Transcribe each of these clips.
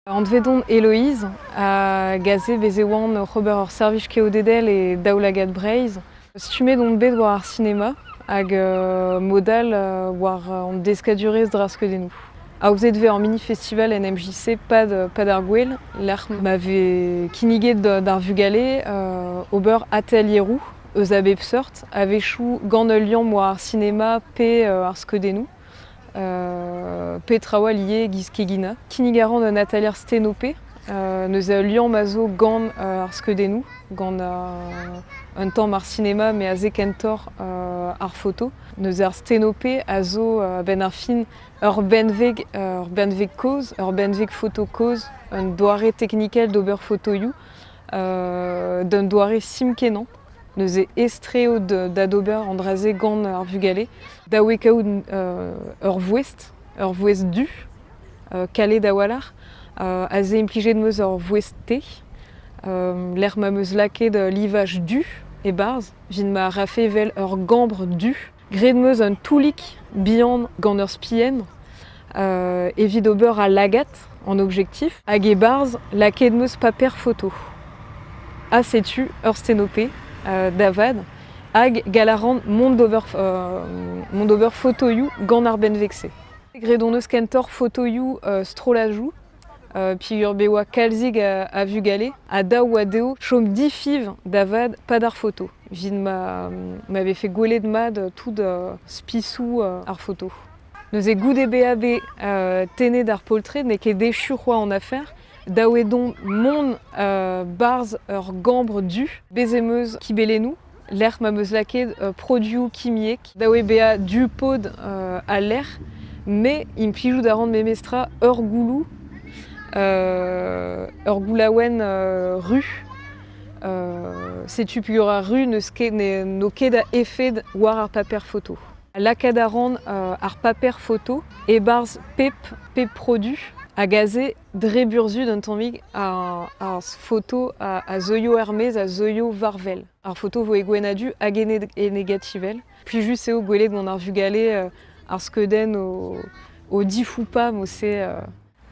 Anvet on Eloise, hag aze bez e oan oc'h ober ur servij keodedel e Daoulagad Breizh. Stummet on bet war ar sinema hag euh, mod all euh, war euh, an deskadurezh draskeudennoù. Aozet vez ur mini-festival en MJC Pad, euh, Pad ar Gouel, lec'h ma vez kinniget d- d'ar vugale euh, ober atelieroù eus a bep seurt, a-wechoù gant ul liamm war ar sinema pe euh, ar skeudennoù. petra oa liez giz keginañ. Kinnig a ran un atalier Stenope. neuze ul liamm a zo gant ar skeudennoù, gant un tamm ar sinema met aze kentoc'h ar foto. Neuze ar Stenope a zo a-benn ar fin ur benveg, ur benveg kozh, ur benveg foto kozh, un doare teknikel d'ober fotoioù d'un doare sim-kenañ. neuze estreot da d'ober an dra-se gant ar vugale, da wekaout ur vouest, ur vouest du, kalet a-walc'h, a se implijet em eus ur vouest-te, lec'h ma 'm eus lakaet livaj du e-barzh, 'vit ma rafe 'vel ur gambr du. Graet 'm eus un toulig bihan gant ur spienn evit ober al lagad en objektif hag e-barzh lakaet 'm eus paper foto. Ha setu ur stenopé da vat hag gall a ran mont d'ober mont d'ober fotoioù gant ar benveg-se. Graet hon eus kentoc'h fotoioù strollajoù. peogwir be oa kalzik a vugale ha dav oa dezho chom difiñv da vat pad ar foto evit ma ma vefe gwelet mat tout spisoù ar foto. Neuze goude bezañ bet tennet ar poltred n'eo ket echu c'hoazh an afer dav eo dont mont 'barzh ur gambr du. Bez' em eus kibelennoù. lec'h ma 'm eus lakaet produoù kimiek da oe bezañ du-pod al lec'h, me implijout a ran memestra ur gouloù, ur goulaouenn ru. setu peogwir ar ru n'eus ket, n'eo ket a efed war ar paper foto. Lakaat a ran ar paper foto e-barzh pep, pep produ hag aze dre burzhud un tammig ar foto a zeuio er-maez, a zeuio war-wel. Ar foto 'vo e gwenn-ha-du hag e negativel. Plijus eo gwelet gant ar vugale euh, ar skeudenn o, o difou ou pas, o se... Euh,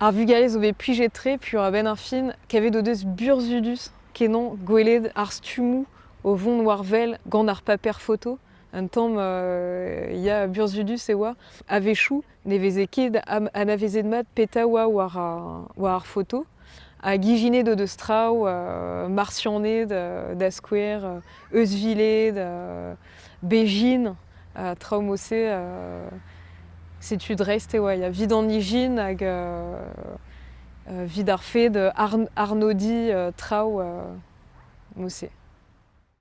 ar vugale zo bet plijet-tre, puis a-benn ar fin, kavet o deus burzhudus kenon gwelet ar stummoù o vont war-wel gant ar paper foto. Un tamm euh, ya, burzhudus e oa. A-wechoù, Ne veze ket anavezet-mat petra oa war ar foto. Hag ijinet o deus traoù Marsianed da skouer, euzhviled, bejin. traoù mod-se, setu dreist e oa. Il y a vit an ijin hag vit ar fed arnodiñ traoù mod-se.